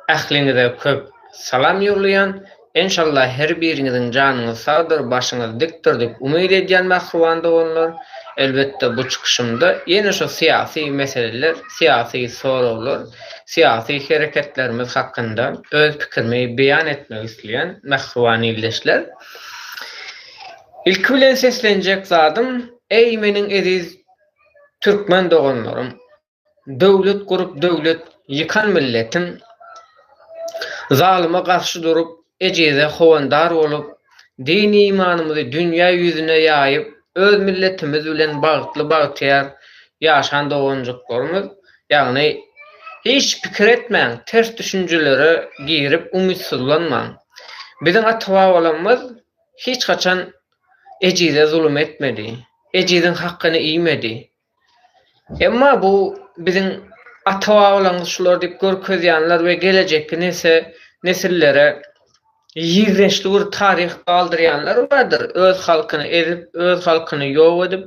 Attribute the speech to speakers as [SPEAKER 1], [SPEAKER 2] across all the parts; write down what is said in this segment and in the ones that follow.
[SPEAKER 1] Ähliňize köp Salam ýollaýan Enşalla her biriňiziň janyňyz sagdyr başyňyz dikdir dip umyt edýän mähriban doganlar elbetde bu çykyşymda ýene şu syýasy meseleler syýasy soraglar syýasy hereketlerimiz hakynda öz pikirimi beýan etmek isleýän mähriban ildeşler ilki bilen seslenjek zadym eý meniň eziz Türkmen doganlarym Döwlet gurup döwlet ýykan milletim Zalyma garşy durup ejize howandar bolup Din imanymyzy dünýä ýüzüne ýaýyp Öz milletimiz bilen bagtly bagtyýar ýaşan doganjyklarymyz ýagny Hiç pikir etmäň ters düşünjelere girip umytsyzlanmaň Biziň ata babalarymyz hiç haçan ejize zulum etmedi ejiziň hakgyny iýmedi Emma bu biziň ata-babalarymyz şular diýip görkezýänler we gelejekki nesillere ýigrençli bir taryh galdyrýanlar bardyr, öz halkyny ezip, öz halkyny ýok edip,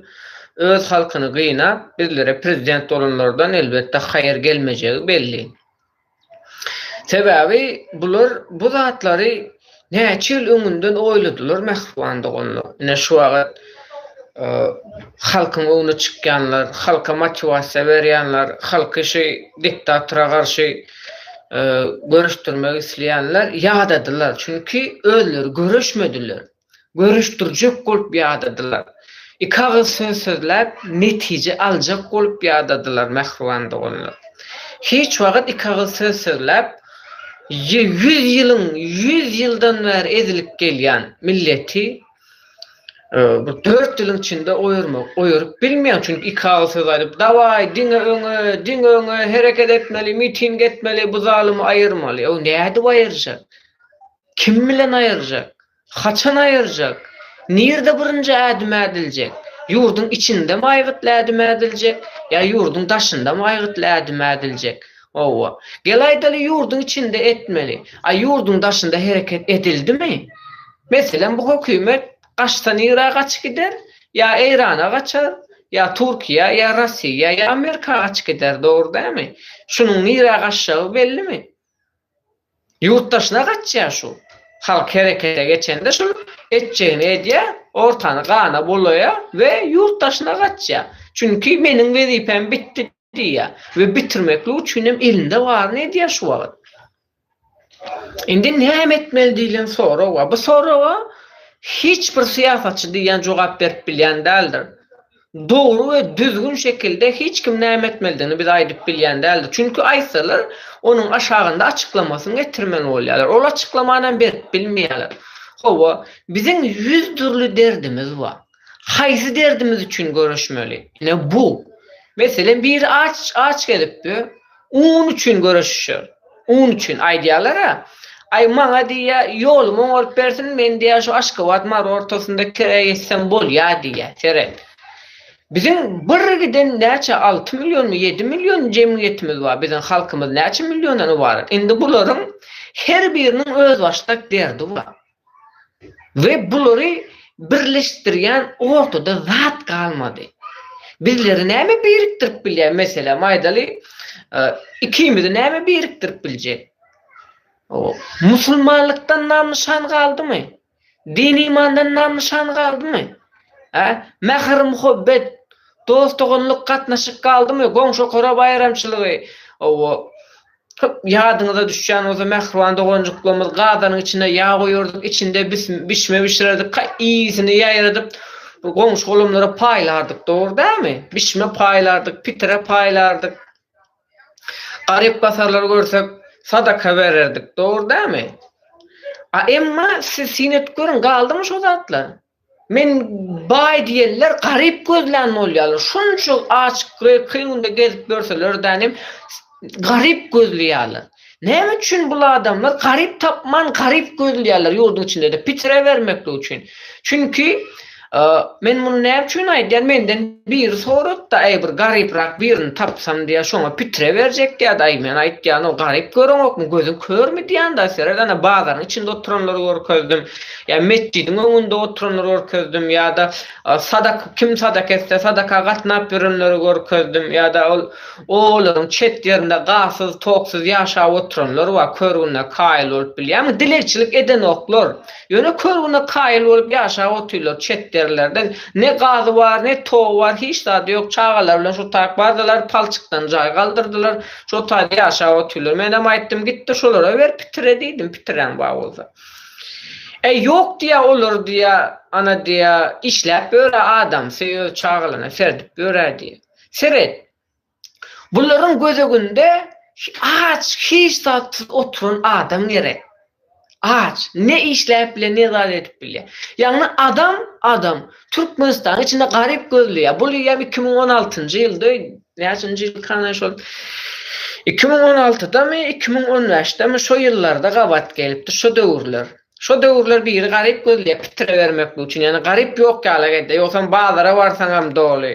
[SPEAKER 1] öz halkyny gynap, bizlere prezident bolanlardan elbetde haýyr gelmejegi belli. Sebäbi bular bu zatlary näçe ýyl öňünden oýladylar mähriban doganlar. Ine şu wagyt halkyň öňüne çykýanlar, halka motiwasiýa berýänler, halky şu diktatora garşy göreşdirmek isleýänler ýadadylar. Çünki özleri göreşmediler. görüşdirjek bolup ýadadylar. Iki agyz söz sözläp, netije aljak bolup ýadadylar mähriban doganlar. Hiç wagt iki agyz söz sözläp, ýüz ýylyň, ýüz ýyldan bäri ezilip gelýän milleti bir dört ýylyň içinde oýarmak, oýaryp bilmeýäň. Çünki iki agyz söz aýdyp, Dawaý, diňe öňe, diňe öňe, hereket etmeli, miting etmeli, bu zalymy aýyrmaly. Ow, nädip aýyrjak? Kim bilen aýyrjak? Haçan aýyrjak? Nirde birinji ädim ädiljek? Ýurduň içindem aýgytly ädim ädiljek, ýa ýurduň daşyndam aýgytly ädim ädiljek? Howwa. Gel aýdaly ýurduň içinde etmeli. A ýurduň daşynda hereket edildimi? Meselem bu hökümet gaçsa nirä gaçyp gider? Ýa Eýrana gaçar, ýa Turkiýa, ýa Rossiýa, ýa Amerika gaçyp gider, dogry dämi? Şunuň nirä gaçjagy bellimi? Ýurtdaşyna gaçýar şu. Halk herekete geçende şul etjegini edýär, ortany gana bulaýar we ýurtdaşyna gaçýar. Çünki meniň wezipäm bitdi diýýär we bitirmeklik üçin hem elinde baryny edýär şu wagt. Indi näme etmeli diýlen sorag bar. Bu soraga hiç bir syýasatçy diýýän jogap berip bilýän däldir. dogry we düzgün şekilde hiç kim näme etmelidigini bize aýdyp bilýän däldir. Çünki aýtsalar, onuň aşagynda açyklamasyny getirmeli bolýarlar. Ol açyklamany hem berip bilmeýärler. Hawa, biziň ýüz dürli derdimiz bar. Haýsy derdimiz üçin göreşmeli? Ine bu. Meselem, biri aç, aç gezipdir. Un üçin göreşişer. Un üçin, aýdýarlar-a, Aý, maňa, diýýär, ýolumy oňaryp bersin, men, diýýär, şu Aşgabat, Mary ortasynda kire geçsem bolýar, diýýär. Seret. Biziň bir giden näçe, alty millionmy, ýedi million jemgyýetimiz bar, biziň halkymyz näçe milliondan ybarat. Indi bularyň her biriniň özbaşdak derdi bar. we bulary birleşdirýän ortada zat galmady. Bizleri näme birikdirip bilýär? Meselem, aýdaly, ikimizi näme birikdirip biljek? Musulmanlykdan nam-nyşan galdymy? Din-imandan nam-nyşan galdymy? Hä? Mähir-muhabbet, dost-doganlyk gatnaşyk galdymy? Goňşy-okara baýramçylygy, hawa, Köp ýadyňyza düşýän bolsa mähriban doganjyklarymyz gazanyň içine ýag guýardyk içinde bişme bişirerdik ka ysyny ýaýradyp goňşy golamlara paýlardyk dogry dämi bişme paýlardyk pitire paýlardyk garyp gasarlary görsek sadaka bererdik dogry dämi a emma siz syn edip görüň galdymy şo zatlar. Men baý diýenler garyp gözlän bolýarlar. Şunça aç grek kyn günde gezip ýörseler däl hem garyp gözleýärler. Näme üçin bul adamlar garyp tapman garyp gözleýärler ýurduň içinde-de pitre bermeklik üçin. Çünki men muny näme üçin aýdýan menden biri sorapdy aý bir garyprak birini tapsam diýýä şoňa pitre berjek diýýärdi aý men aýtýan o garyp göreňokmy gözüň körmi diýýän daý seret ana bazaryň içinde oturanlary görkezdim. Ýa metjidiň öňünde oturanlar görkezdim ýa-da sadak kim sadak etse sadaka gatnap ýörenleri görkezdim ýa-da ol obalaryň çet ýerinde gazsyz toksuz ýaşap oturanlar bar körgüne kaýyl bolup bilýämi dilegçilik edenoklar ýöne körgüne kaýyl bolup ýaşap otyrlar çet ýerlerde ne gazy bar ne togy bar hiç zady ýok çagalary bilen şo taýyp bardylar palçykdan jaý galdyrdylar şo taýda ýaşap otyrlar menem aýtdym gitdir şolara ber pitire diýdim pitiräň bar bolsa. Äý ýok diýýä olar diýýä ana diýýä işläp ýörä adamsy öz çagalaryna serdip ýörä diýýä. Seret. Bularyň gözeginde aç hiç zatsyz oturan adam gerek. Aç ne işläp bilýä ne zat edip bilýä. Ýagny adam adam Türkmenistanyň içinde garyp gözleýä. Bu diýýä iki müň on altynjy ýylda Näçinji ýylkana şol iki müň on altydamy, iki müň on bäşdemi şo ýyllarda gabat gelipdir, şo döwürler. Şo döwürler biri garyp gözleýär pitirebermeklik üçin, ýagny garyp ýok ýaly edýär, ýogsam bazara barsaňam doly.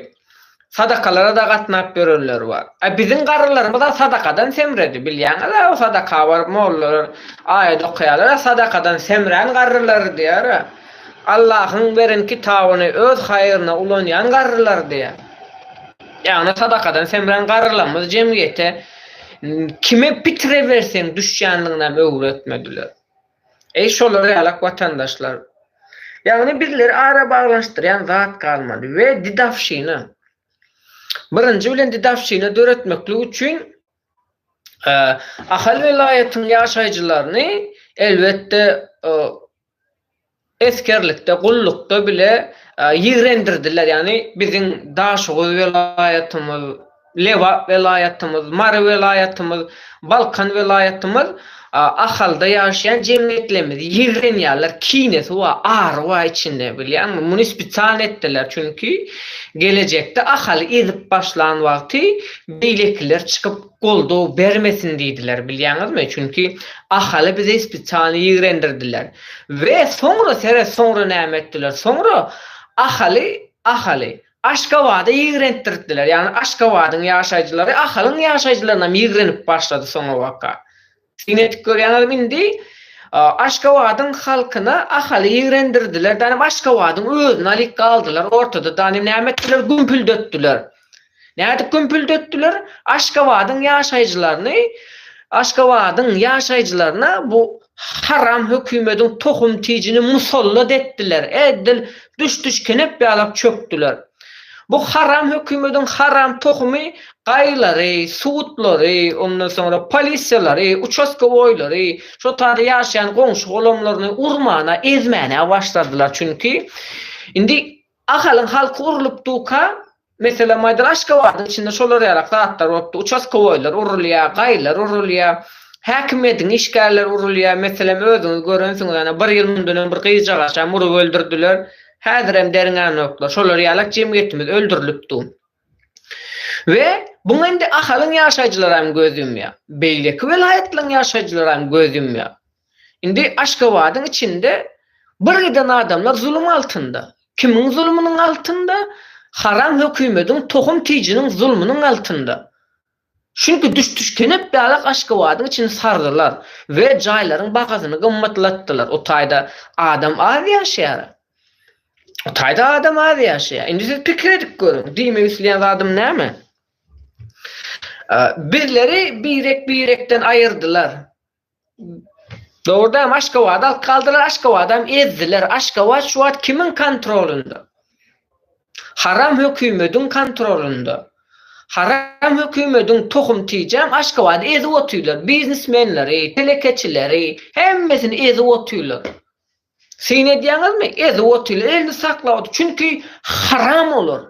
[SPEAKER 1] Sadakalara-da gatnap ýörenler bar. A biziň garrylarymyz-a sadakadan semredi, bilýäňiz-ä o sadaka baryp mollalar aýat okaýarlar-a sadakadan semrän garrylar diýýär-ä. Allahyň beren kitabyny öz haýryna ulanýan garrylar diýýär. Ýagny sadakadan semrän garrylarymyz jemgyýete kime pitire berseň düşýänliginäm öwretmediler. Eý şolar ýalak watandaşlar! Ýagny bizleri ara baglanyşdyrýan zat galmady we didawşina. Birinji bilen didawşina döretmeklik üçin Ahal welaýatynyň ýaşaýjylaryny elbetde Esgerlikde, gullukda bile ýigrendirdiler. Ýagny biziň Daşoguz welaýatymyz, Lebap welaýatymyz, Mary welaýatymyz, Balkan welaýatymyz Ahalda ýaşaýan jemgyýetlerimizi ýigrenýärler. Kinesi bar, ary bar içinde, bilýäňmi? Muny spesialny etdiler. Çünki gelejekde Ahaly ezip başlan wagty beýlekiler çykyp goldaw bermesin diýdiler bilýäňizmi çünki Ahaly bize spesialny ýigrendirdiler we soňra seret soňra näme etdiler soňra Ahaly Ahaly Aşgabada ýigrentdirtdiler ýagny Aşgabadyň ýaşaýjylary Ahalyň ýaşaýjylarynam ýigrenip başlady soňabaka Şuny etip görýäňizmi indi? Aşgabadyň halkyna Ahaly ýigrendirdiler, danem Aşgabadyň özüni alyp galdylar ortada, danem näme etdiler, gümpüldetdiler. Nädip gümpüldetdiler? Aşgabadyň ýaşaýjylaryny, Aşgabadyň ýaşaýjylaryna bu haram hökümediň tohum tijini musallat etdiler, edil düş-düş kenep ýalap çökdüler. Bu haram hökümediň haram tohumy Gaýylary, sudlary, ondan soňra polisiýalary, uçaskowoýlary, şol taýda ýaşaýan goňşy-golamlaryny urmana, ezmäne başladylar. Çünki indi Ahalyň halky urlupdyka, meselem, aýdaly, Aşgabadyň içinde şolar ýalak zatlar bolupdy, uçaskowoýlar urulýar, gaýylar urulýar, häkimiýetiň işgärleri urulýar. Meselem, özüňiz görensiňiz, ana, bir ýyl mundan öň bir gyzjagaşam urup öldürdiler. Häzirem derňänoklar. Şolar ýalak jemgyýetimiz öldürilipdi. We muňa indi Ahalyň ýaşaýjylary hem göz ýumýar. Beýleki welaýatlaryň ýaşaýjylary hem göz ýumýar. Indi Aşgabadyň içinde birgiden adamlar zulum altynda. Kimiň zulumynyň altynda? Haram hökümediň, tohum-tijiniň zulumynyň altynda. Çünki düş-tüşkenep ýaly Aşgabadyň içini sardylar we jaýlaryň bahasyny gymmatlatdylar. O taýda adam az ýaşaýar. O taýda adam az ýaşaýar. Indi siz pikir edip görüň, diýmek isleýän zadym näme? Bizleri birek-birekden aýyrdylar. Dogrudanam Aşgabady alyp galdylar, Aşgabadam ezdiler. Aşgabat şu wagt kimiň kontrolynda? Haram hökümediň kontrolynda. Haram hökümediň tohum tijäm Aşgabady ezip otyrlar. Biznesmenleri, telekeçileri, hemmesini ezip otyrlar. Syn edýäňizmi? Ezip otyl, elini saklap otyr. Çünki haram olar,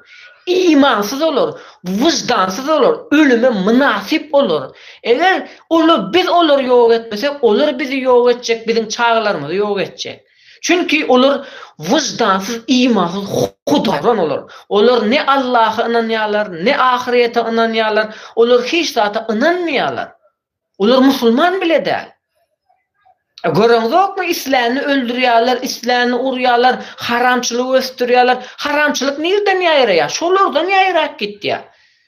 [SPEAKER 1] imansyz olar, wyždansyz olar, ölüme mynasyp olar. Eger ola biz olary ýok etmesek, olar bizi ýok etjek, biziň çagalarymyzy ýok etjek. Çünki olar wyždansyz, imansyz, hudaran olar. Olar ne Allaha ynanýarlar, ne ahyrete ynanýarlar, olar hiç zata ynanmaýarlar. Olar musulman bile däl. Göreňzokmy islänini öldürýärler, islänini urýarlar, haramçylygy ösdürýärler. Haramçylyk nirden ýaýraýar? Şolardan ýaýrap gitýär.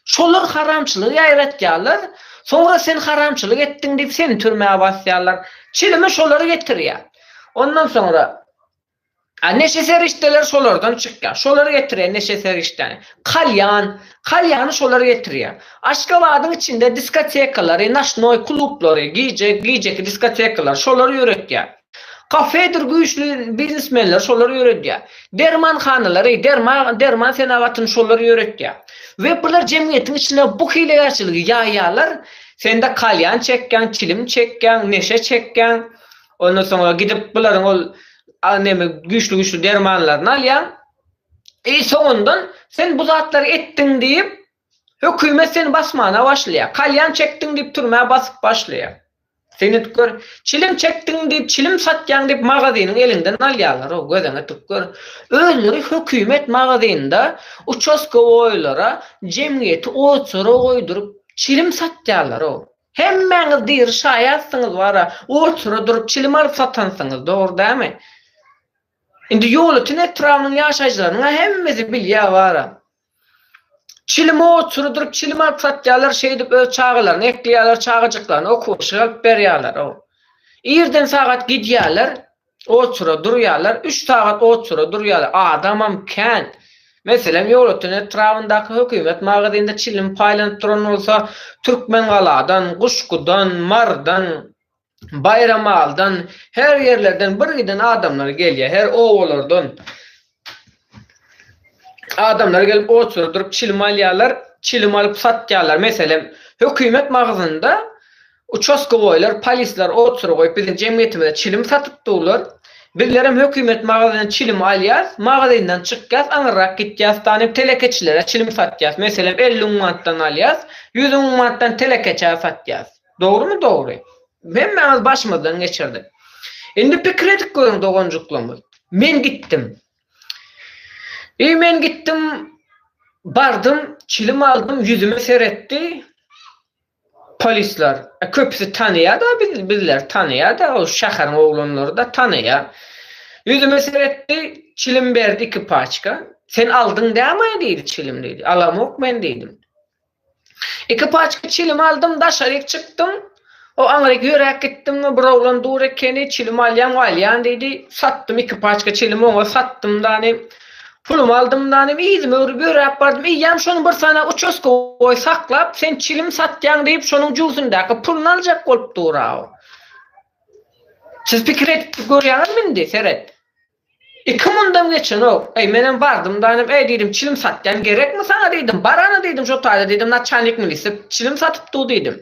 [SPEAKER 1] Şolar haramçylygy ýaýratýarlar, soňra sen haramçylyk etdiň diýip seni türmä basýarlar. Çilimi şolar getirýär. Ondan soňra A neşe serişdeleri şolardan çykýar. Şolar getirýär neşe serişdäni. Kalýan, kalýany şolar getirýär. Aşgabadyň içinde diskotekalary, noşnoý klublary, gije, gijeki diskotekalary şolar ýöretýär. Kafedir güýçli biznesmenleri şolar ýöredýär. Dermanhanalary, derma, derman senagatyny şolar ýöretýär. We bular jemgyýetiň içine bu hilegärçiligi ýaýýarlar. Sende kalýan çekýäň, çilim çekýäň, neşe çekýäň. Ondan soňra gidip bularyň ol neme güýçli-güýçli dermanlaryny alýaň. E soňundan sen bu zatlary etdiň diýip, hökümet seni basmana başlaýar. Kalýan çekdiň diýip türmä basyp başlaýar. Seni gör, çilim çekdiň diýip, çilim satýaň diýip magazynyň eliňden alýarlar. O gözüňe tük gör. Özleri hökümet magazynda uçaskowoýlara, jemgyýeti oçara goýduryp, çilim satýarlar. O. Hemmäňiz diri şaýatsyňyz wara, otura durup çilim alyp satansyňyz, dogry dämi? Indi Ýolöten etrabynyň ýaşaýjylarynyň-a hemmesi bilýär wara. Çilimi otura durup çilim alyp satýarlar, şeýdip öz çagalaryny ekleýärler, çagajyklaryny okuwa şygalyp berýärler-ow. Irden sagat gidýärler. Oçura durýarlar, üç sagat oçura durýarlar, adamam kän. Meselem, Ýolöten etrabyndaky hökümet magazynda çilim paýlanyp duran bolsa, Türkmengaladan, Guşgudan, Marydan, Baýramalydan, her ýerlerden birgiden adamlar gelýär, her obalardan. Adamlar gelip oçury durup çilim alýarlar, çilim alyp satýarlar. Meselem, hökümet magazynynda uçastkowoýlar, polisler oçury goýup biziň jemgyýetimize çilim satyp durlar. Bizlerem hökümet magazynyndan çilim alýas, magazyndan çykýas, aňyrrak gitýas danyp telekeçilere çilim satýas. Meselem, elli müň manatdan alýas, ýüz müň manatdan telekeçä satýas. Dogrymy dogry. Hemmämiz başymyzdan geçirdik. Indi pikir edip görüň doganjyklarymy. Men gitdim. Eý men gitdim bardym çilim aldym ýüzüme seretdi. Polisler. E, köpüsi tanaýada biz bizler tanaýada o şäheriň oglanlary da tanaýa. Ýüzüme seretdi çilim berdi iki paçka. Sen aldyň dämi diýdi çilim diýdi. Alamok men diýdim. Iki paçka çilim aldym, daşaryk çykdym. O aňryk ýöräp gitdim we bir oglan dur ekeni, çilim alýan we alýan diýdi. Satdym iki paçka çilimi oňa satdym danym. Pulumy aldym danym, yzymy öwrüp ýöräp bardym. Eýýäm şony bir sany uçaskowoý saklap, sen çilim satýaň diýip, şonuň jübüsindäki puluny aljak bolup dur-a o. Siz pikir edip görýäňizmi indi? Seret. Iki mundan geçenok. Eý, menem bardym-da, inem, eý, diýdim, çilim satýan, gerekmi saňa diýdim, bar-a-na diýdim, şo taýda diýdim, naçalnik milise çilim satyp dur diýdim.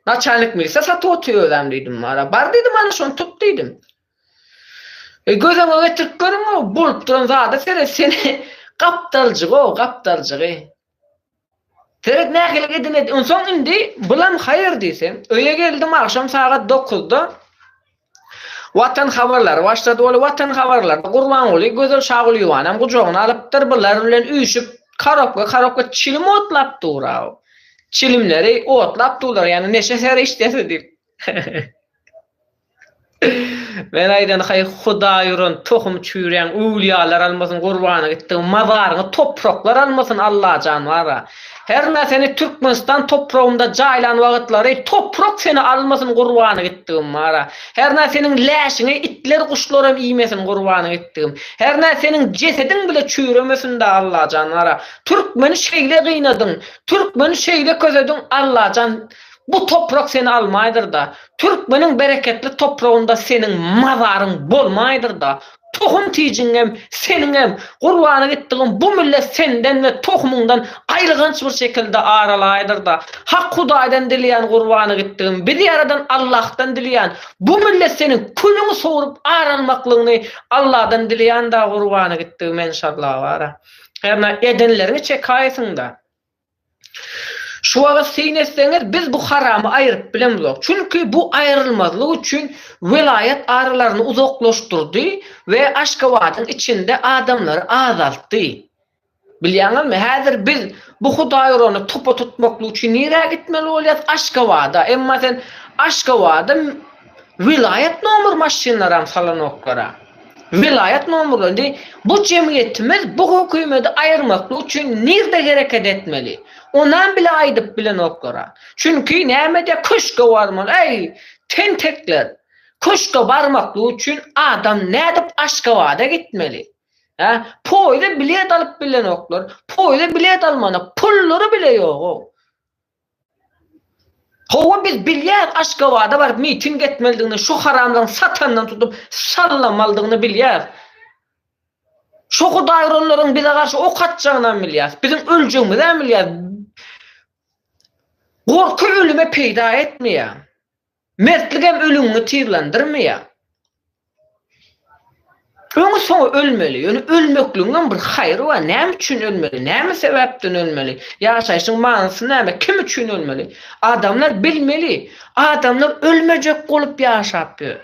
[SPEAKER 1] Naçalnik milise satyp otyr özem diýdim, bar-a, bar diýdim, ana, şony tut diýdim. Eý, göz öňüňe getirip görüň-ow, bolup duran zada seret, seni gapdaljygy-ow, gapdaljygy. Seret nähili edine Onsoň indi bulam haýyr diýseň, öýe geldim agşam sagat dokuzda Watan habarlary başlady ol Watan habarlarda Gurbanguly Gözel Şagulyýewanam gujagyna alypdyr bular bilen üýşüp karobka karobka çilim otlap dura o çilimleri otlap durlar ýaly neşe serişdesi diýip. Men aýdan haý hudaý uran tohum çüýrän öwlýalar almasyn gurbana gitdigiň mazaryňy topraklar almasyn Allajan bara hernä seni Türkmenistan topragynda jaýlan wagtlary toprak seni almasyn gurbana gitdigim bara hernä seniň läşiňi itler guşlaram iýmesin gurbana gitdigim hernä seniň jesediň bile çüýremesinda Allajan bara Türkmeni şeýle gynadyň Türkmeni şeýle kösediň Allajan Bu toprak seni almaýdyr-da, türkmeniň bereketli topragynda seniň mazaryň bolmaýdyr-da, tohum-tijiňem, seniňem, gurbana gitdigiň bu millet senden we tohumyňdan aýylganç bir şekilde aralaýdyr-da, Hak Hudaýdan dileýän gurbana gitdigim, bizi ýaradan Allahdan dileýän, bu millet seniň külüňi sowrup aralmaklygyňy Allahdan dileýän-da gurbana gitdigim enşalla bara. Hernä edenleriňi çekäýsiň-da. Şu wagt syn etseňiz, biz bu haramy aýryp bilemzok. Çünki bu aýrylmazlyk üçin welaýat aralaryny uzaklaşdyrdy we Aşgabadyň içinde adamlary azaltdy. Bilýäňizmi, häzir biz bu hudaýurany topa tutmaklyk üçin nirä gitmeli bolýas? Aşgabada. Emma sen Aşgabada Welaýat nomer maşynlaram salanoklara. Welaýat nomerleri indi bu jemgyýetimiz bu hökümedi aýyrmaklyk üçin nirde hereket etmeli? Onam bile aýdyp bilenoklara. Çünki näme diýýär köşge barmaly äý tentekler. Köşge barmaklyk üçin adam nädip Aşgabada gitmeli? Hä? Poýda bilet alyp bilenoklar. Poýda bilet almana pullary bile ýogow. Hawa biz bilýäs Aşgabada baryp miting etmelidigini şu haramzaň satandan tutup sallamalydygyny bilýäs. Şo hudaýuranlaryň bize garşy ok atjagynam bilýäs. Biziň öljegimizem bilýäs. Gorky ölüme peýda etmeýär. Mertligem ölüňi tizlendirmeýär. Öňi-soňy ölmeli, ýöne ölmekligiňem bir haýry bar, näme üçin ölmeli, näme sebäpden ölmeli, ýaşaýşyň manysy näme, kim üçin ölmeli? Adamlar bilmeli. Adamlar ölmejek bolup ýaşap ýör.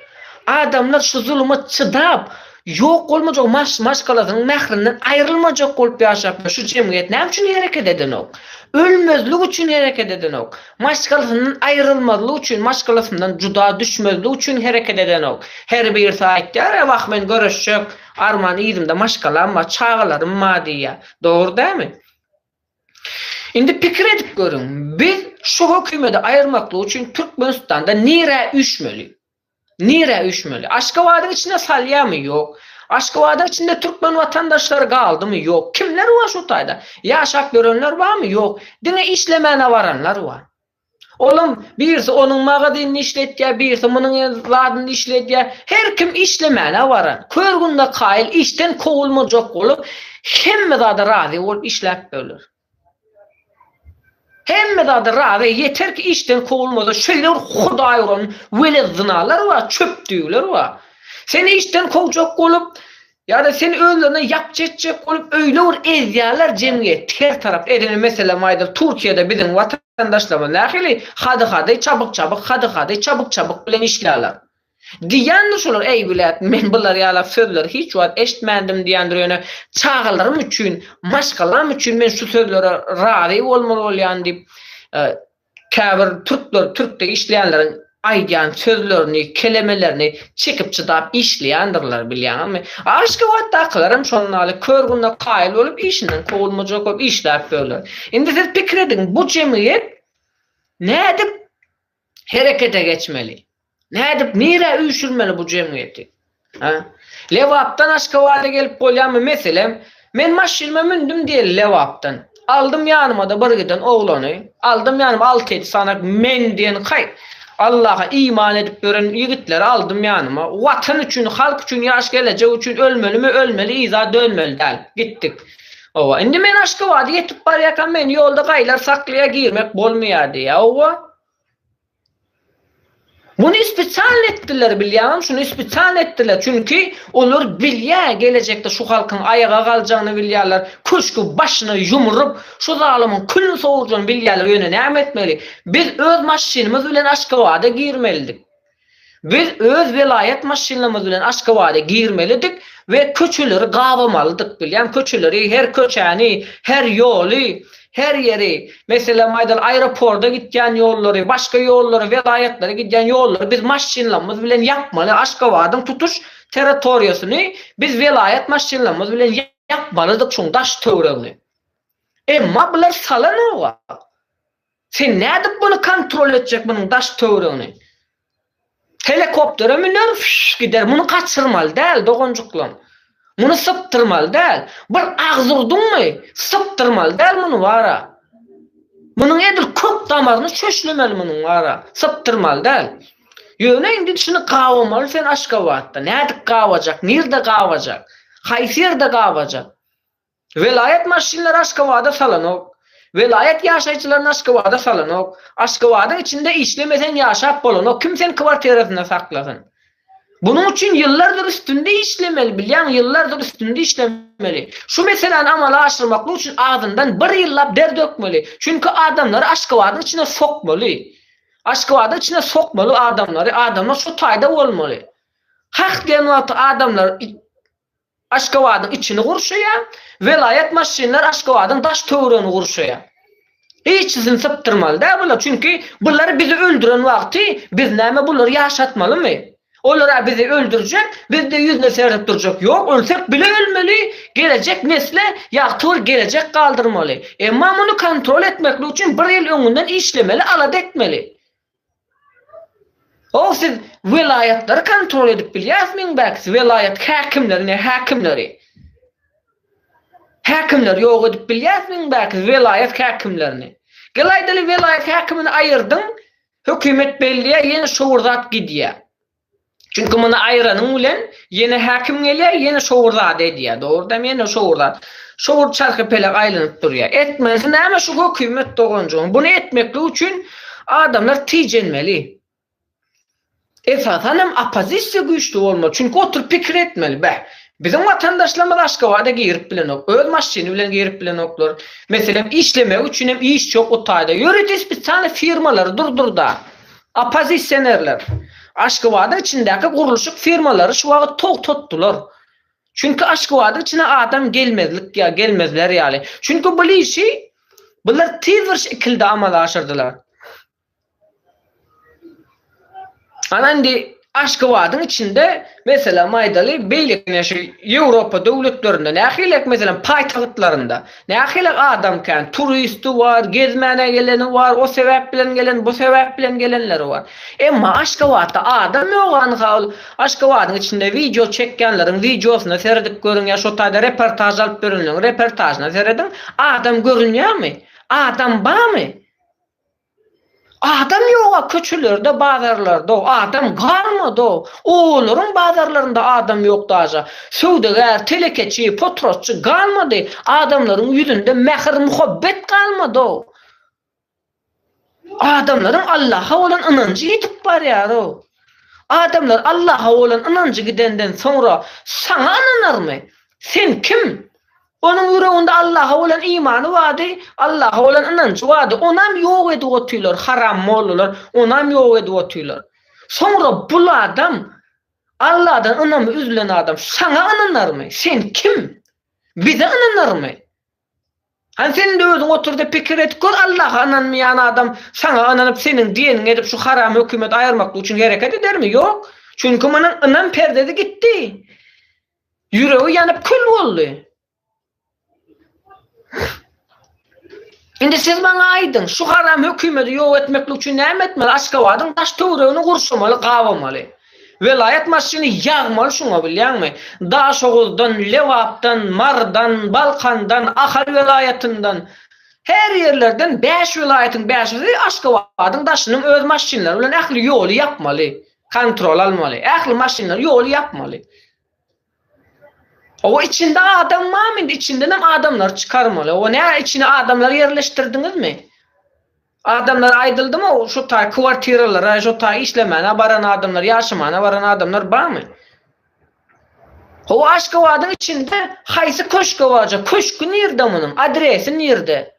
[SPEAKER 1] Adamlar şu zuluma çydap, ýok bolmajak maş-maşgalasynyň mährinden aýrylmajak bolup ýaşap ýör. Şu jemgyýet näme üçin hereket edenok? Ölmezlik üçin hereket edenok. Maşgalasyndan aýrylmazlyk üçin, maşgalasyndan juda düşmezlik üçin hereket edenok. Her birisi aýtýar, E wah, men göreşjek, arman yzymda maşgalam bar, çagalarym bar diýýär. Dogry dälmi? Indi pikir edip görüň, biz şu hökümedi aýyrmaklyk üçin Türkmenistanda nirä üýşmeli? Nirä üýşmeli? Aşgabadyň içine salýamy, ýok? Aşgabadyň içinde türkmen watandaşlary galdymy, ýok? Kimler bar şu taýda? Ýaşap ýörenler barmy, ýok? Diňe işlemäne baranlar bar. Olam birisi onuň magazynyny işletýär, birisi munuň zadyny işledýär. Her kim işlemäne baran. Kör-günde kaýyl işden kowulmajak bolup, hemme zada razy bolup işläp biler. Hemme zada razy, ýeter ki işden kowulmasa, şeýle bir hudaý uran welet zynalar bar, çöpdügler bar. Seni işden kowjak bolup, ýa-da seni özlerine ýapjy etjek bolup öýle bir ezýärler jemgyýeti her tarap. Edil meselem aýdyl Türkiýede biziň watandaşlarymyz nähili hady-hady, çabyk-çabyk, hady-hady, çabyk-çabyk bilen işlärler. Diýýändir şolar, äý wlet, men bular ýalak sözleri hiç wagt eşitmändim diýýändir, ýöne çagalarym üçin, maşgalam üçin men şu sözlere razy bolmaly bolýan diýip, käbir türkler, türkde işleýänleriň aýdýan sözlerini, kelemelerini çekip-çydap işleýändirler, bilýäňizmi? Aşgabatdakylaram şonuň ýaly, kör gününe kaýyl bolup işinden kowulmajak bolup işläp ýörler. Indi siz pikir ediň, bu jemgyýet nädip herekete geçmeli? Nädip, nirä üýşürmeli bu jemgyýeti? Hä? Lebapdan Aşgabada gelip bolýamy, meselem, men maşynyma mündüm diýeli Lebapdan. Aldym ýanyma-da bir giden oglany, aldym ýanyma alty-ýedi sany men diýen kaý, Allaha iman edip ýören ýigitleri aldym ýanyma. Watan üçin, halk üçin, ýaş gelejek üçin ölmelimi, ölmeli, yza dönmeli däl. Gitdik. Hawa, indi men Aşgabada ýetip barýarkam, meni ýolda gaýlar saklaýar, girmek bolmaýar diýýär. Hawa. Muny spesialno etdiler, bilýäňem, şuny spesialno etdiler. Çünki olar bilýär, gelejekde şu halkyň aýaga galjagyny bilýärler, köşgi başyna ýumrup, şu zalymyň külüni sowurjagyny bilýärler, ýöne näme etmeli? Biz öz maşynymyz bilen Aşgabada girmelidik. Biz öz welaýat maşynlarymyz bilen Aşgabada girmelidik we köçeleri gabamalydyk bilýän köçeleri her köçäni her ýoly her ýeri meselem aýdaly aeroporda gitýän ýollary başga ýollary welaýatlara gidýän ýollary biz maşynlarymyz bilen ýapmaly Aşgabadyň tutuş territoriýasyny biz welaýat maşynlarymyz bilen ýapmalydyk şuň daş töwregini emma bular salanok Sen nädip muny kontrol etjek munuň daş töwregini. Helekoptere müner fyş gider muny gaçyrmaly däl doganjyklam. Muny sypdyrmaly däl. Bir agzy urduňmy sypdyrmaly däl muny bara. Munuň edil kök damaryny çöşlemeli munuň bara. Sypdyrmaly däl. Ýöne indi şuny gabamaly sen Aşgabatda. Nädip gabajak nirde gabajak. Haýsy ýerde gabajak. Welaýat maşynlary Aşgabada salanok. Welaýat ýaşaýjylaryny Aşgabada salanok. Aşgabadyň içinde işlemeseň ýaşap bolanok, kim seni kwartirasynda saklasyn. Bunuň üçin ýyllardyr üstünde işlemeli, bilýäňmi, ýyllardyr üstünde işlemeli. Şu meseläni amala aşyrmaklyk üçin azyndan bir ýyllap der dökmeli. Çünki adamlary Aşgabadyň içine sokmaly. Aşgabadyň içine sokmaly adamlary, adamlar şu taýda bolmaly. Hak diýen wagty adamlar Aşgabadyň içini gurşaýar, welaýat maşynlar Aşgabadyň daş töweregini gurşaýar. Hiçisini sypdyrmaly däl bular, çünki bular bizi öldüren wagty biz näme bulary ýaşatmalymy? Olara bizi öldürjek, bizde ýüzüne seredip durjak ýok, ölsek bile ölmeli, gelejek nesle ýagty bir gelejek galdyrmaly. Emma muny kontrol etmeklik üçin bir ýyl öňünden işlemeli, alada etmeli. O siz welaýatlary kontrol edip bilýäsmiň bäk siz welaýat häkimleri ne häkimleri häkimleri ýok edip bilýäsmiň bäk siz welaýat häkimlerini gel aýdaly welaýat häkimini aýyrdyň hökümet belleýä ýene şowur zat gidýä. Çünki muny aýranyň bilen ýene häkim gelýär, ýene şowur zady edýär. Dogrudanam ýene şowur zat. Şowur çarhypelek aýlanyp durýar. Etmesi näme şu hökümet doganjygyň? Buny etmeklik üçin adamlar tijenmeli. Esasan hem oppozisiýa güýçli bolmaly. Çünki oturyp pikir etmeli. Beh, biziň watandaşlarymyz Aşgabada girip bilenok. Öz maşyny bilen girip bilenoklar. Meselem, işlemek üçin hem işçi ýok bu taýda. Ýörite spesialnyý firmalary durdurda. Oppozisionerler Aşgabadyň içindäki gurluşyk firmalary şu wagt togtatdylar. Çünki Aşgabadyň içine adam gelmezlik ýa gelmezler ýaly. Çünki bul işi bular tiz bir şekilde amala aşyrdylar. Ana indi Aşgabadyň içinde, meselem aýdaly, beýleki ine şu Ýewropa döwletlerinde nähilek, meselem, paýtagtlarynda nähilek adam kän, turisti bar, gezmäne geleni bar, o sebäp bilen gelen, bu sebäp bilen gelenleri bar. Emma Aşgabatda adam ýok anha ol Aşgabadyň içinde wideo çekýänleriň wideosyna seredip görüň ýa şo taýda reportaž alyp berenleriň reportažyna serediň, adam görünýärmi? Adam barmy? Adam ýoga köçelerde bazarlarda adam galmada obalaryň bazarlarynda adam ýok daža söwdagär telekeçi potrotçy galmady adamlaryň ýüzünde mähir muhabbet galmada adamlaryň Allaha bolan ynanjy ýitip barýara adamlar Allaha bolan ynanjy gidenden soňra saňa ynanarmy sen kim Onuň ýüreginde Allaha bolan imany bardy, Allaha bolan ynanjy bardy, onam ýok edip otyrlar, haram mollalar, onam ýok edip otyrlar. Soňra bul adam, Alladan ynamy üzülen adam saňa ynanarmy? Sen kim? Bize ynanarmy? Hany sen indi özüň otur-da pikir et gör, Allaha ynanmaýan adam saňa ynanyp seniň diýeniňi edip şu haram hökümeti aýyrmaklyk üçin hereket edermi? Ýok. Çünki munuň ynam perdesi gitdi. Ýüregi ýanyp kül boldy. Indi siz maňa aýdyň, şu haram hökümedi ýok etmeklik üçin näme etmeli? Aşgabadyň daş-töweregini gurşamaly, gabamaly. Welaýat maşyny ýagmaly şuňa, bilýäňmi? Daşoguzdan, Lebapdan, Marydan, Balkandan, Ahal welaýatyndan, her ýerlerden bäş welaýatyň bäşisi Aşgabadyň daşynyň öz maşynlary bilen ähli ýoly ýapmaly. Kontrol almaly. Ähli maşynlar ýoly ýapmaly. Oba içinde adam barmy indi içindenem adamlary çykarmaly. Oba nä içine adamlary ýerleşdirdiňizmi? Adamlara aýdyldymy şu taý kwartiralara şu taý işlemäne baran adamlar ýaşamana baran adamlar barmy? Oba Aşgabadyň içinde haýsy köşke barja köşki nirde munuň adresi nirde?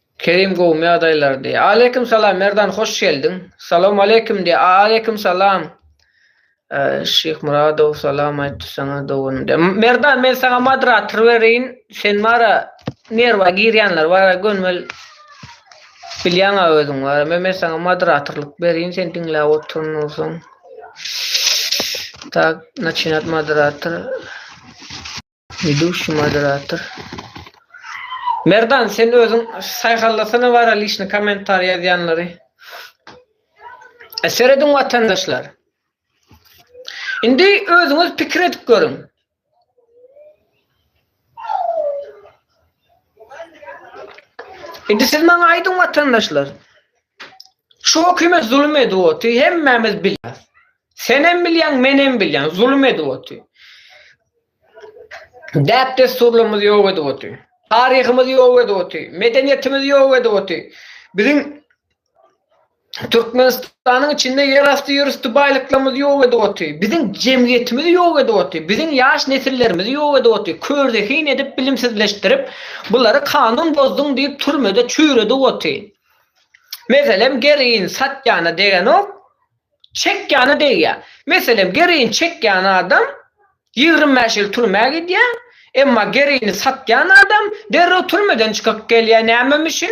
[SPEAKER 1] Kerim gowmy ýagdaýlar diýýär. Aleýkim salam Merdan hoş geldiň. Salawmaleýkim diýýär. Aleýkim salam. Şyhmyradow salam aýtdy saňa doganym diýýär. Merdan men saňa moderator bereýin sen bara nerwa girýänler bara gönümel bilýäňa özüň bara men men saňa moderatorlyk bereýin sen diňläp otur nursoň. Tak naçinat moderator. Widuşi moderator. Merdan sen özüň saýhallasana bara lişni komentar ýazýanlary. E serediň watandaşlar. Indi özüňiz pikir edip görüň. Indi siz maňa aýdyň watandaşlar. Şu hökümet zulum edip otyr, hemmämiz bilýäs. Sen hem bilýäň, men hem bilýän, zulum edip otyr. Däp-dessurlarymyz ýok edip otyr. Taryhymyz ýok edip otyr. Medeniýetimiz ýok edip otyr. Biziň Türkmenistanyň içinde ýerasty ýörüsti baýlyklarymyz ýok edip otyr. Biziň jemgyýetimiz ýok edip otyr. Biziň ýaş nesillerimizi ýok edip otyr. Körzehin edip bilimsizleşdirip bulary kanun bozduň diýip türmede çüýredip otyr. Meselem gerin satýana degenok. Çekýana degýär. Meselem, geroin çekýän adam ýigrimi bäş ýyl türmä gidýär, emma geroini satýan adam derrew türmeden çykyp gelýär. Nämem üçin?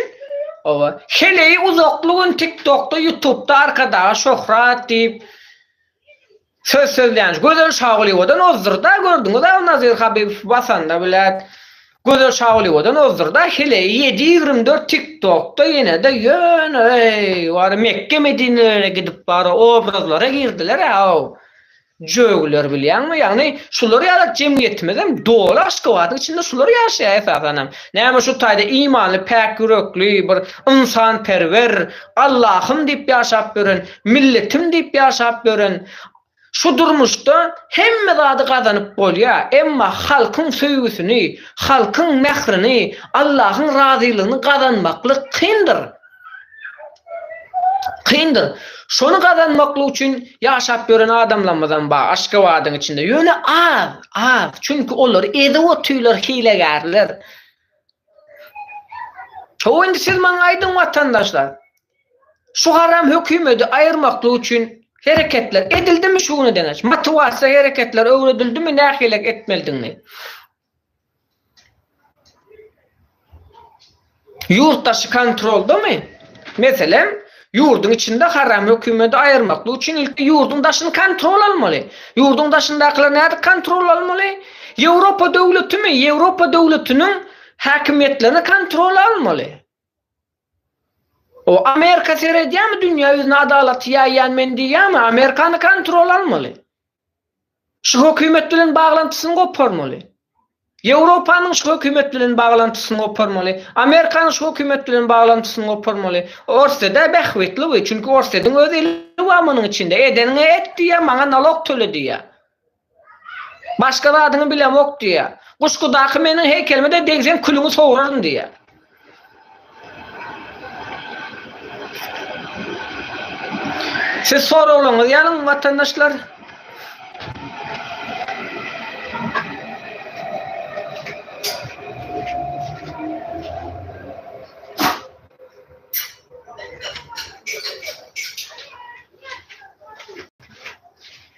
[SPEAKER 1] Hawa, heleýi uzakly gün TikTokda, Ýutubda Arkadaga şöhrat diýip söz sözlänç. Gözel Şagulyýewadan ozdur-da, gördüňiz-ä Nazir Habibow basanda, bilet. Gözel Şagulyýewadan ozdurda heleýi ýedi ýigrimi dört tiktokda ýenede ýöne eý wara Mekge Medinelere gidip wara obrazlara girdilerä ow jögiler bilýäňmi ýagny şular ýaly jemgyýetimizem doly Aşgabadyň içinde şular ýaşaýa esasanam näme şu taýda imanly päk ýürekli bir ynsanperwer Allahym diýip ýaşap ýören milletim diýip ýaşap ýören Şu durmuşda hemme zady gazanyp bolýar, emma halkyň söýgüsini, halkyň mährini, Allahyň razylygyny gazanmaklyk kyndyr. Kyndyr. Şony gazanmaklyk üçin ýaşap ýören adamlarymyzam bar Aşgabadyň içinde. Ýöne az, az. Çünki olary ezip otyrlar hilegärler. Ho indi siz maňa aýdyň watandaşlar, Şu garam hökümedi aýyrmaklyk üçin hereketler edildimi şu güne deňeç? Motiwasiýa hereketler öwredildimi nähili etmelidigini? Ýurt daşy kontroldamy? Meselem, ýurduň içinde haram hökümedi aýyrmaklyk üçin ilki ýurduň daşyny kontrol almaly. Ýurduň daşyndakylar nädip kontrol almaly? Ýewropa döwletimi? Ýewropa döwletiniň häkimiýetlerini kontrol almaly. O Amerika seredýämi dünýä ýüzüne adalaty ýaýýan men diýýämi Amerikany kontrol almaly. Şu hökümet bilen baglantysyny goparmaly. Ýewropanyň şu hökümet bilen baglantysyny goparmaly. Amerikanyň şu hökümet bilen baglantysyny goparmaly. Orsýedä bähbitli bu çünki Orsýediň öz eli bar munuň içinde edeniňe et diýýä maňa nalok töle diýýä. Başga zadyňy bilemok diýýä. Guşgudaky meniň heýkelime-de degseň külüňi sowraryn diýýä. Siz soraglaryňyzy ýazyň watandaşlar.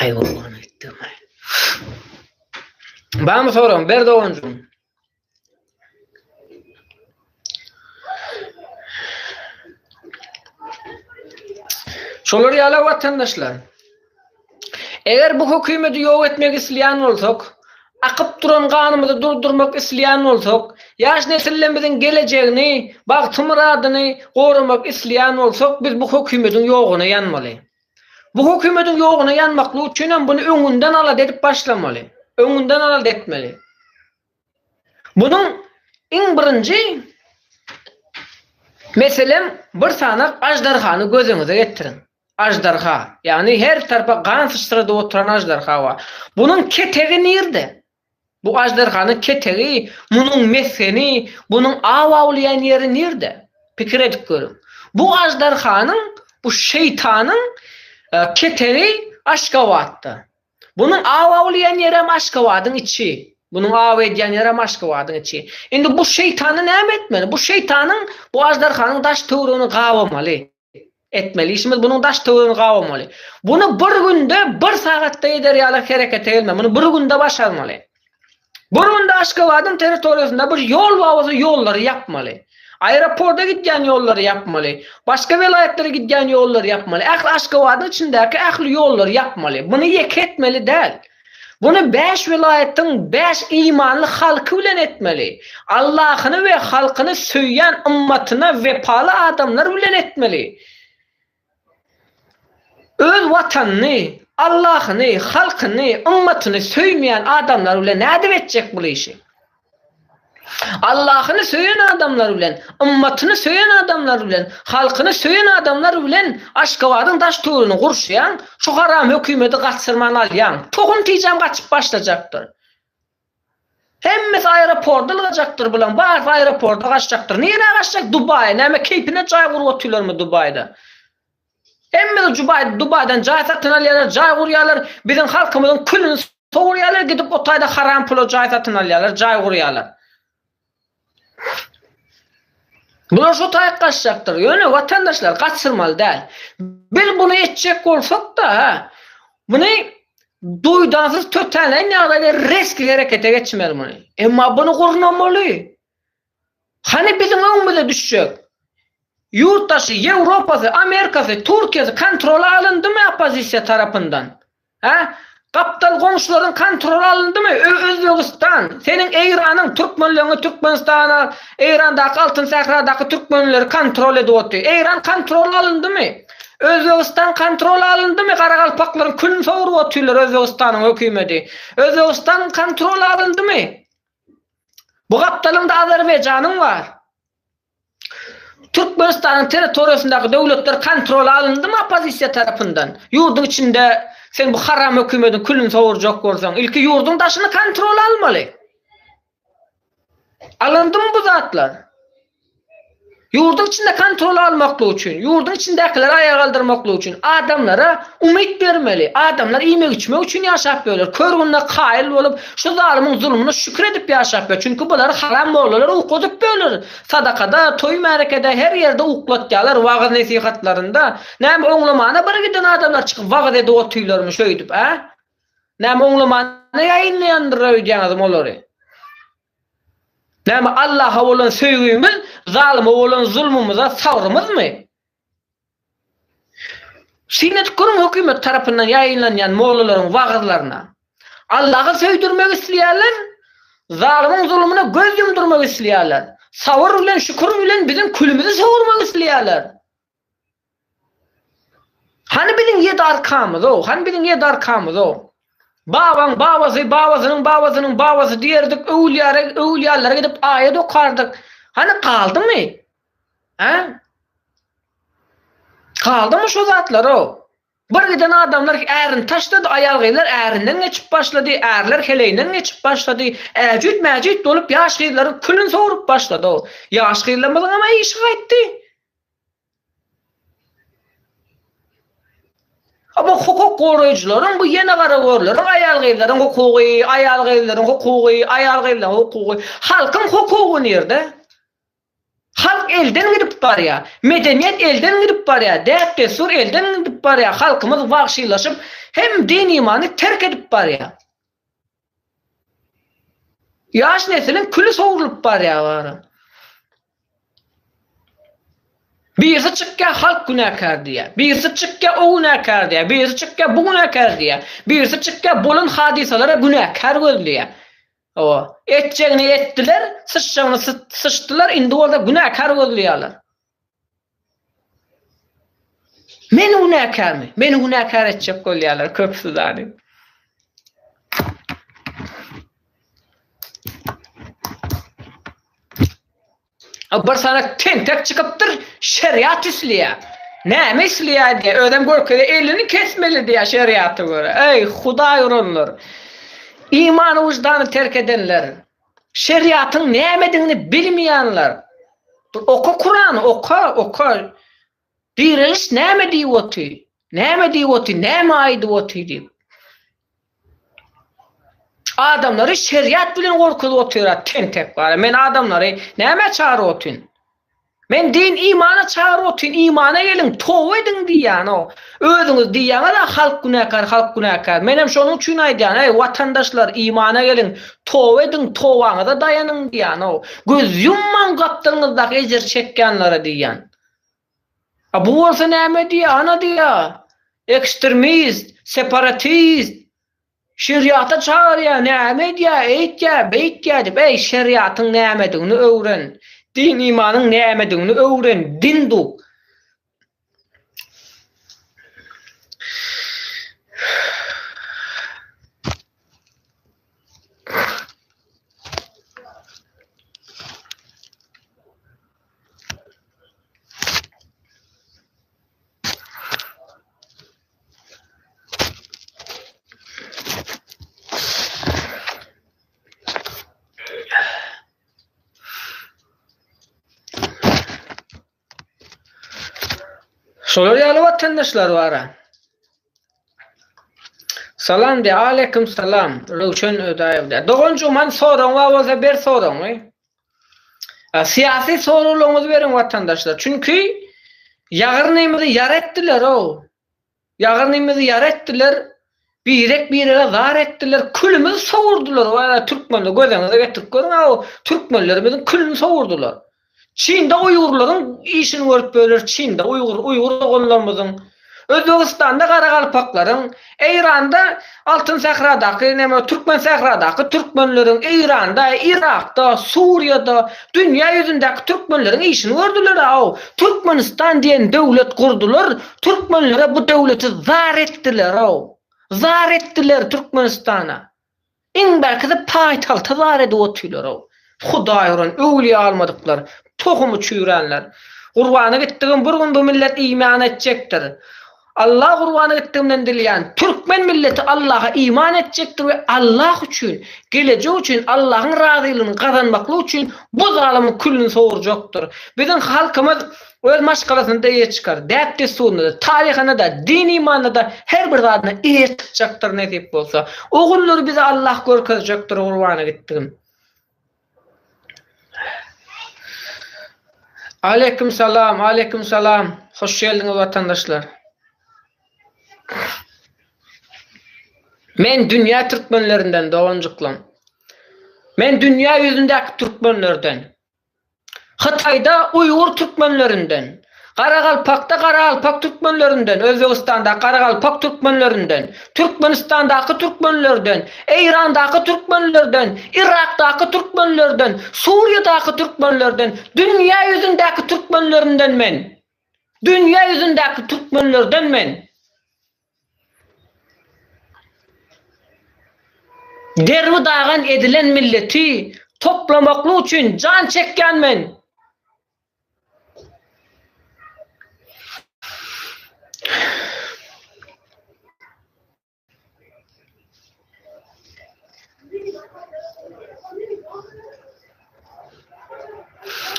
[SPEAKER 1] Aý gurban etdim aý. Bamy soraň ber doganjym. Şolar ýala watandaşlar. Eger bu hökümeti ýok etmek isleýän bolsak, akyp duran ganymyzy durdurmak isleýän bolsak, ýaş nesillerimiziň gelejegini, bagty-myradyny goramak isleýän bolsak, biz bu hökümetiň ýoguna ýanmaly. Bu hökümetiň ýoguna ýanmaklyk üçin hem buny öňünden alada edip başlamaly. Öňünden alada etmeli. Bunuň iň birinji meselem bir sanak aždarhany gözüňize getiriň. Aždarha, ýagny her tarpa gan syçradyp oturan aždarha bar. Bunuň ketegi nirde? Bu aždarhanyň ketegi, munuň mesgeni, bunuň aw awlaýan ýeri nirde? Pikir edip görüň. Bu aždarhanyň, bu şeýtanyň ketegi Aşgabatda. Bunuň aw awlaýan ýeri hem Aşgabadyň içi. Bunuň aw edýän ýeri hem Aşgabadyň içi. Indi bu şeýtana näme etmeli? Bu şeýtanyň, bu aždarhanyň daş-töweregini gabamaly. etmeli işimiz bunun daş töwrüni gabamaly. Bunu bir günde, bir sagatda eder ýaly herekete gelme. Bunu bir günde başarmaly. Bir günde Aşgabadyň territoriýasynda bir ýol bawazy ýollary ýapmaly. Aeroporta gidýän ýollary ýapmaly. Başga welaýatlara gidýän ýollary ýapmaly. Ähli Aşgabadyň içindäki ähli ýollary ýapmaly. Bunu ýeke etmeli däl. Muny bäş welaýatyň bäş imanly halky bilen etmeli. Allahyny we halkyny söýýän ymmatyna wepaly adamlar bilen etmeli. Öz watanyny, Allahyny, halkyny, ymmatyny söýmeýän adamlar bilen nädip etjek bul işi? Allahyny söýen adamlary bilen, ymmatyny söýen adamlary bilen, halkyny söýen adamlary bilen Aşgabadyň daş töwrüni gurşaýaň, şu haram hökümeti gaçyrman alýaň. Tohum tijäm gaçyp başlajakdyr. Hemmesi aeroporda ylgajakdyr bulaň barysy aeroporda gaçjakdyr. Nirä gaçjak Dubaýa näme keýpine jaý gurup otyrlarmy Dubaýda. Hemmesi Jubaý, Dubaýdan jaý satyn alýarlar, jaý gurýarlar, biziň halkymyzyň külüni sowurýarlar, gidip o taýda haram pula jaý satyn alýarlar, jaý gurýarlar. Bular şu taýy gaçjakdyr. Ýöne watandaşlar gaçyrmaly däl. Biz bunu etjek bolsak-da, ha, muny duýdansyz tötänleýin ýagdaýda resgi herekete geçmeli muny. Emma bunu gurnamaly. Hany biziň öňümize düşjek ýurtdaşy, Ýewropasy, Amerikasy, Türkiýesi kontrola alyndymy oppozisiýa tarapyndan? Hä? Gapdal goňşularyň kontrola alyndymy? Özbegistan, seniň Eýranyň türkmenleňi Türkmenistana, Eýrandaky Altyn sähradaky türkmenleri kontrol edip otyr. Eýran kontrola alyndymy? Özbegistan kontrola alyndymy? Garagalpaklaryň külüni soguryp otyrlar Özbegistanyň hökümeti. Özbegistan kontrola alyndymy? Bu gapdalynda Azerbaýjanyň bar. Türkmenistanyň territoriýasyndaky döwletler kontrola alyndymy oppozisiýa tarapyndan? Ýurduň içinde sen bu haram hökümediň külüni sowurjak bolsaň, ilki ýurduň daşyny kontrola almaly. Alyndymy bu zatlar? Ýurduň içinde kontroly almaklyk üçin, ýurduň içindäkileri aýaga galdyrmaklyk üçin adamlara umyt bermeli. Adamlar iýmek-içmek üçin ýaşap ýörler. Kör gününe kaýyl bolup, şu zalymyň zulumyna şükür edip ýaşap ýör. Çünki bulary haram mollalar ukladyp ýörler. Sadakada, toý-märekede, her ýerde uklatýarlar, wagyz-nesihatlarynda. Näme, oňlamana bir giden adamlar çykyp wagyz edip otyrlarmy şöýdüp, a? Näme, oňlamana ýaýynlaýandyr öýdýäňizmi olary? Näme Allaha bolan söýgümiz zalyma bolan zulmumyza sabrymyzmy? Syn edip görüň hökümet tarapyndan ýaýynlanýan mollalaryň wagyzlaryna. Allaha söýdürmek isleýärler, zalymyň zulmuna göz ýumdurmak isleýärler. Sabyr bilen şükür bilen biziň külümizi sowurmak isleýärler. Hany biziň ýedi arkamyz-ow, hany biziň ýedi arkamyz-ow? Babaň babasy, babasynyň babasynyň babasy diýerdik, öwülýäre, öwülýänlere gidip aýat okardyk. Hany galdymy? Hä? Galdymy şo zatlar-ow? Bir giden adamlar ärini taşlady, aýal-gyzlar ärinden geçip başlady, ärler heleýinden geçip başlady, äjüt-mäjüt bolup ýaş gyzlaryň külüni sogrup başlady-ow. Ýaş gyzlarymyzyňam-a işi gaýtdy. Bu hukuk goraýjylaryň, bu ýene garagörleriň, aýal-gyzlaryň hukugy, aýal-gyzlaryň hukugy, aýal-gyzlaryň hukugy. Halkyň hukugy nirde? Halk elden gidip barýar. Medeniýet elden gidip barýar. Däp-dessur elden gidip barýar. Halkymyz wagşylaşyp, hem din-imany terk edip barýar. Ýaş nesiliň küli sowrulyp barýar bara. Birisi çykýar halk günäkär diýýär. Birisi çykýar o günäkär diýýär. Birisi çykýar bu günäkär diýýär. Birisi çykýar bolan hadysalara günäkär gözleýär. Hawa, etjegini etdiler, syçjagyny syçdylar, indi bolsa günäkär gözleýärler. Meni günäkärmi? Meni günäkär etjek bolýarlar köpüsi zanim. Bir sana tentek çykypdyr, şeriat isleýär. Näme isleýär diýär, özem görkezýär, elini kesmeli diýär şeriata görä. Eý, Hudaý uranlar! Imany, wyždany terk edenler! Şeriatyň nämedigini bilmeýänler bir oka kurany oka oka direliş näme diýip oty näme diýip oty näme aýdyp oty diýip adamlary şeriat bilen gorkuzyp otyrat tentek bara men adamlary nämä çagyryp otyn. Men din imana çagyryp otyryn imana geliň toba ediň diýýänok özüňiz diýýäňizä halk günäkär halk günäkär menem şonuň üçin aýdýan eý watandaşlar imana geliň toba ediň tobaňyza daýanyň diýýänok göz ýummaň gapdalňyzdaky ejir çekýänlere diýýän a bu bolsa näme diýýär ana diýýär ekstrmist separatist Şeriata çagyrýar, näme edýär, eýtýär, beýtýär diýip, äý, şeriatyň nämedigini öwren, din-imanyň nämedigini öwren, din duk. Şolar ýaly watandaşlar bar. Salam de, aleýkum salam, Röwşen Ödaýew de. Doganjygym, han soragyň bar bolsa ber soragyňy. Syýasy soraglaryňyzy beriň watandaşlar. Çünki ýagyrnymyzy ýar etdiler-ow. Ýagyrnymyzy ýar etdiler, birek-birege zar etdiler, külümizi sowurdylar we türkmeni gözeňize getirip görüň-ä o türkmenlerimiziň külüni sowurdylar. Çynda uýgurlaryň işini görüp böler, Çynda uýgur, uýgur doganlarymyzyň Özbegistanda garagalpaklaryň, Eýranda, Altyn sähradaky, näme, Türkmen sähradaky türkmenleriň, Eýranda, Yrakda, Suriýada, dünýä ýüzündäki türkmenleriň işini gördüler-aw. Türkmenistan diýen döwlet gurdular, türkmenlere bu döwleti zar etdiler-aw. Zar etdiler Türkmenistana. Iň belki-de paýtagty zar edip otyrlar-ow. Hudaý uran, öwlüýä almadyklar, tohumy çüýränler. Gurbana gitdigim bir gün bu millet iýmän etjekdir. Allah gurbana gitdigimden dilýän, türkmen milleti Allaha iman etjekdir we Allah üçin, gelejek üçin, Allahyň razylygyny gazanmaklyk üçin bu zalymyň küllüni sowurjakdyr. Biziň halkymyz Öz maşgalasynda-da eýe çykar, däp-dessurynda-da, taryhynda-da, din-imanda-da her bir zadyna eýe çykjakdyr nesip bolsa. Ogullary bize Allah görkezjekdir, gurbana gitdigim. Aleýkum salam, aleýkum salam. Hoş geldiňiz watandaşlar. Men dünýä türkmenlerinden doganjyklam. Men dünýä ýüzündäki türkmenlerden. Hytaýda uýgur türkmenlerinden, Garagalpakda garaalpak türkmenlerinden, Özbegistanda garagalpak türkmenlerinden, Türkmenistandaky türkmenlerden, Eýrandaky türkmenlerden, Yrakdaky türkmenlerden, Suriýadaky türkmenlerden, dünýä ýüzündäki türkmenlerinden men, dünýä ýüzündäki türkmenlerden men. Derbi dagan edilen milleti toplamaklyk üçin jan çekýän men.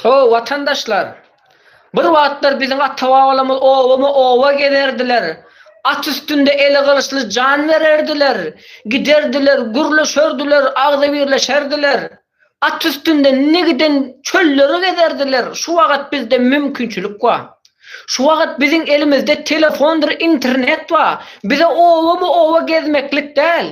[SPEAKER 1] O, watandaşlar! Bir wagtlar biziň ata-babalarymyz obama-oba gezerdiler, at üstünde eli gylyçly jan bererdiler, giderdiler, gürleşerdiler, agzybirleşerdiler. At üstünde ne giden çölleri gezerdiler, şu wagat bizde mümkinçilik bar. Şu wagat biziň elimizde telefondyr internet bar, bize obamy oba gezmeklik däl.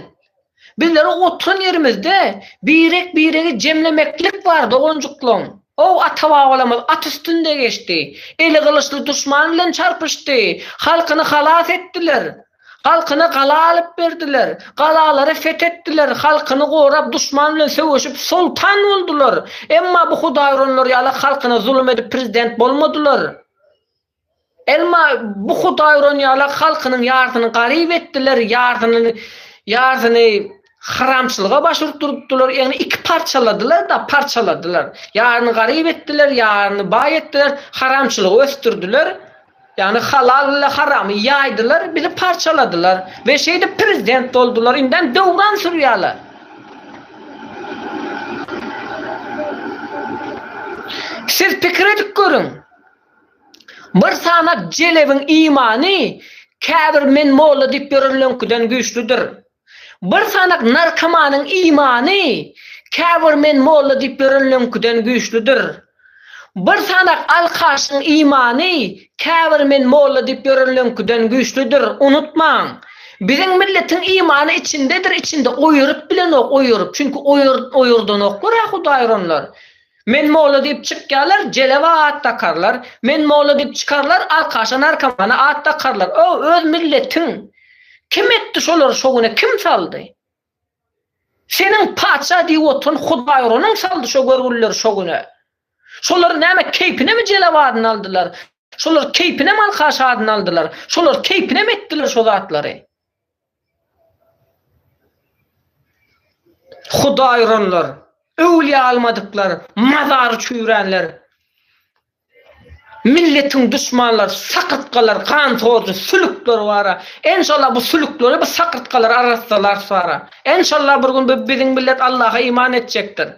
[SPEAKER 1] Bizlere oturan ýerimizde birek biregi jemlemeklik bar doganjyklaň. Ow ata-babalarymyz at üstünde geçdi, eli gylyçly duşman bilen çarpyşdy, halkyny halas etdiler. Halkyna gala alyp berdiler. Galalary fethetdiler, halkyny gorap, duşman bilen söweşip, soltan boldular. Emma bu hudaýuranlar ýaly halkyna zulum edip prezident bolmadylar. Elma bu hudaýuran ýaly halkynyň ýarsyny garyp etdiler, ýarsynyny ýarsyny haramçylyga baş urtdurupdylar, ýagny iki parçaladylar-da, parçaladylar. Ýaryny garyp etdiler, ýaryny baý etdiler, haramçylygy ösdürdiler. Ýagny halal ile haramy ýaýdylar bizi parçaladylar we şeýdip prezident boldular indem döwran sürýaler. Siz pikir edip görüň. Bir sanap jelebiň imany käbir men molla diýip ýörenleňkiden güýçlüdir. Bir sanak narkomanyň imany käbir men molla diýip ýörenleňkiden güýçlüdir. Bir sanak alkaşyň imany käbir men molla diýip ýörenleňkiden güýçlüdir. Unutmaň! Biziň milletiň imany içindedir, içinde oýuryp bilenok, oýuryp. Çünki oýurdanoklar-a hudaýyronlar. Men molla diýip çykýarlar, jelewa at dakarlar, men molla diýip çykarlar, arkaşa narkomana at dakarlar. O, öz milletiň. Kim etdi şolary şo güne, kim saldy? Seniň patyşa diýip oturan hudaýuranyň saldy şo görgülileri şo güne. Şolar näme keýpinemi jelewa adyny aldylar? Şolar keýpinem arkaşa adyny aldylar? Şolar keýpinem etdiler şo zatlary? Hudaý uranlar, öwlüýä almadyklar, mazary çüýränler, milletiň duşmanlary, sakyrtgalar, ganhorjy, sülükler bara. Enşalla bu sülükleri, bu sakyrtgalary arassalarys bara. Enşalla bir gün bu biziň millet Allaha iman etjekdir.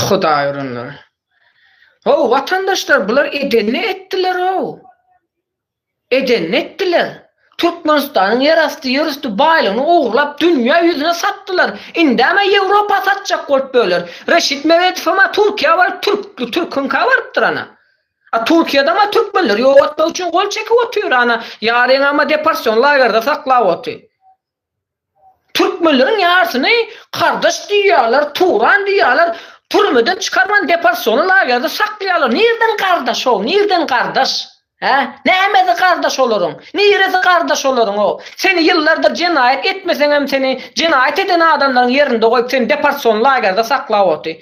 [SPEAKER 1] Hudaý uranlar. Ho, watandaşlar, bular edeni etdiler-ow. Edenini etdiler. Türkmenistanyň ýerasty ýerüsti baýlygyny ogurlap dünýä ýüzüne satdylar. Indäm-ä Ýewropa satjak bolup böler. Reşit Meredowam-a Türkiýä baryp türkli türküňkä barypdyr ana. A Türkiýedem-ä türkmenleri ýok etmek üçin gol çekip otyr ana. Ýaryňam-a deporsion lagerde saklap oty. Türkmenleriň ýarsyny Kardaş diýýärler, Turan diýýärler, türmeden çykarman deporsiona lagerde saklaýarlar. Nirden Gardaş o? Nirden Gardaş? Hä? Nämesi Gardaş olaryň? Niresi Gardaş olaryň o? Seni ýyllardyr jenaýat etmeseňem seni jenaýat eden adamlaryň ýerinde goýup seni deporsiona lagerde saklap oty.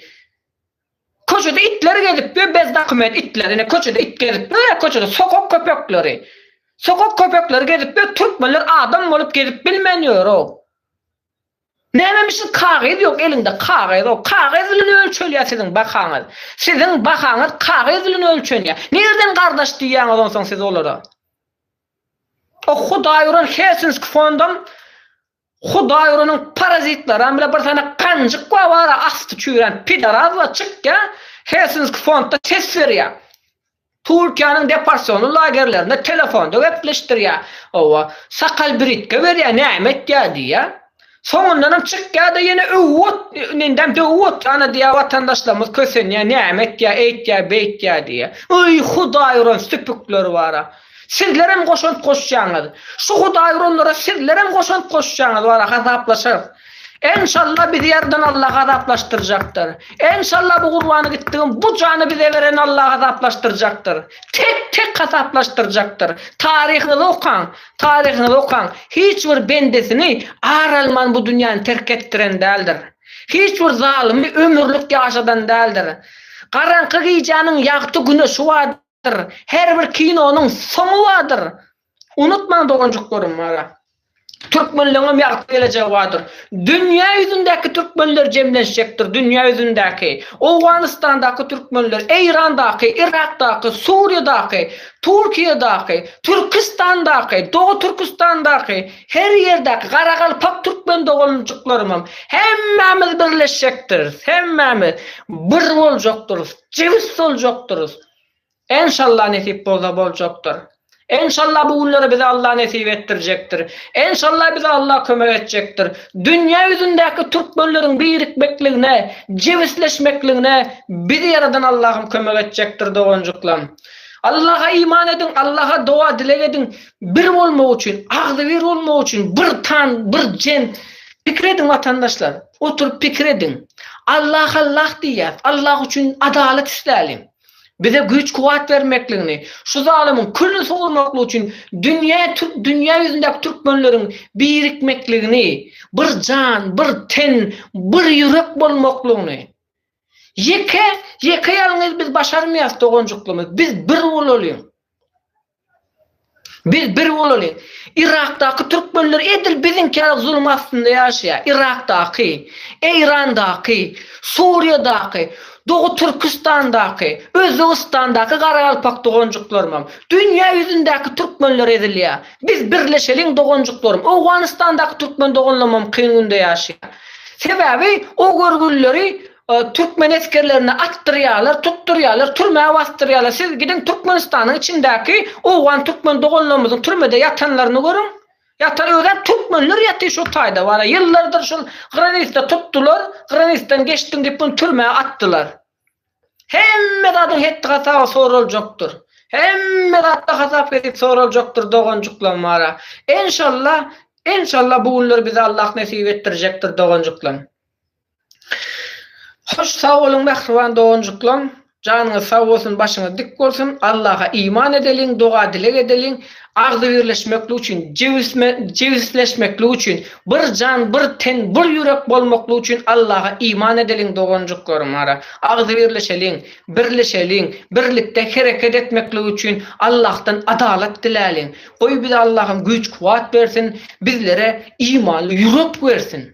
[SPEAKER 1] Köçede itler gezip ýör bez dokument itler ine köçede it gezip ýör ýa köçede sokak köpekleri sokak köpekleri gezip ýör türkmenler adam bolup gezip bilmän ýöroow nämemişin kagyz ýok eliňde kagyzow kagyz bilen ölçelýär siziň bahaňyz siziň bahaňyz kagyz bilen ölçenýär nirden gardaş diýýäňiz onsoň siz olara oh hudaý uran helsinski fondam Hudaý uranyň parazitlaram bile bir sany ganjyk bar wara asty çüýrän pidarazlar çykýa Helsinski fondda ses berýä Turkiýanyň deporsiony lagerlerinde telefonda gepleşdirýä owa sakal britke berýä näme etýä diýýä soňundanam çykýada ýene öwüp ot indem döwüp oturana diýýä watandaşlarymyz kösenýä näme etýä eýtýä beýtýä diýýä öý hudaý uran süpükler bara. Sizlerem goşant goşjaňyz. Şu Hudaý uranlara sizlerem goşant goşjaňyz wara hasaplaşarys. Enşalla bizi ýaradan Alla hasaplaşdyrjakdyr. Enşalla bu gurbany gitdigim bu jany bize beren Alla hasaplaşdyrjakdyr. Tek tek hasaplaşdyrjakdyr. Taryhyňyzy okaň, taryhyňyzy okaň. Hiç bir bendesini ar alman bu dünýäni terk etdiren däldir. Hiç bir zalymy ömürlik ýaşadan däldir. Garaňky gijäniň ýagty güne şu bardyr her bir kinonyň soňy bardyr unutmaň doganjyklarym ara türkmenleňem ýagty gelejegi bardyr dünýä ýüzündäki türkmenler jemlenşjekdir dünýä ýüzündäki owganystandaky türkmenler eýrandaky yrakdaky suriýadaky turkiýadaky türkistandaky doga türkistandaky her ýerdäki garagalpak türkmen doganjyklarymam hemmämiz birleşjekdiris hemmämiz bir boljakdyrys. Jebis boljakdyrys. Enşalla nesip bolsa boljakdyr. Enşalla bu günleri bize Allah nesip etdirjekdir. Enşalla bize Allah kömek etjekdir. Dünýä ýüzündäki türkmenleriň birikmekligine, jebisleşmekligine bizi ýaradan Allahym kömek etjekdir doganjyklam. Allaha iman ediň, Allaha doga-dileg ediň bir bolmak üçin, agzybir bolmak üçin, bir tan, bir jen, Pikir ediň watandaşlar, oturyp pikir ediň. Allah Allah diýýäs, Allah üçin adalat isläliň. Bize güýç kuwwat bermekligini, şu zalymyň külüni sowurmaklyk üçin dünýä türk dünýä ýüzündäki türkmenleriň birikmekligini, bir jan, bir ten, bir ýürek bolmaklygyny. Ýeke, ýeke ýalňyz biz başarmaýas doganjyklymyz, biz bir bolalyň. Biz bir bolaly. Yrakdaky türkmenler edil biziňkirak zulum astynda ýaşaýar. Yrakdaky, Eýrandaky, Suriýadaky, Doga Türküstandaky, Özbegistandaky garagalpak doganjyklarymam. Dünýä ýüzündäki türkmenler ezilýär. Biz birleşeliň doganjyklarym. Owganystandaky türkmen doganlarymam kyn günde ýaşaýar. Sebäbi o görgülileri Türkmen esgerlerini atdyrýarlar, tutdurýarlar, türmä basdyrýarlar. Siz gidiň Türkmenistanyň içindäki owgan türkmen doganlarymyzyň türmede ýatanlaryny görüň. Ýatan özem türkmenler ýatyr şol taýda bar-a. Ýyllardyr şol granitde tutdular, granitden geçdiň diýip muny türmä atdylar. Hemme zadyň hetdi-hasaby soraljakdyr. Hemme zatda hasap-hesip soraljakdyr doganjyklam bar-a. Enşalla, enşalla bu günler bize Allah nesip etdirjekdir doganjyklam. Hoş sag boluň mähriban doganjyklaň janyňyz sag bolsun başyňyz dik bolsun Allaha iman edeliň doga dileg edeliň agzybirleşmeklik üçin jebisleşmeklik üçin bir jan bir ten bir ýürek bolmaklyk üçin Allaha iman edeliň doganjyklarym ara agzybirleşeliň birleşeliň birlikde hereket etmeklik üçin Allahdan adalat diläliň goý bize Allahym güýç kuwat bersin bizlere imanly ýürek bersin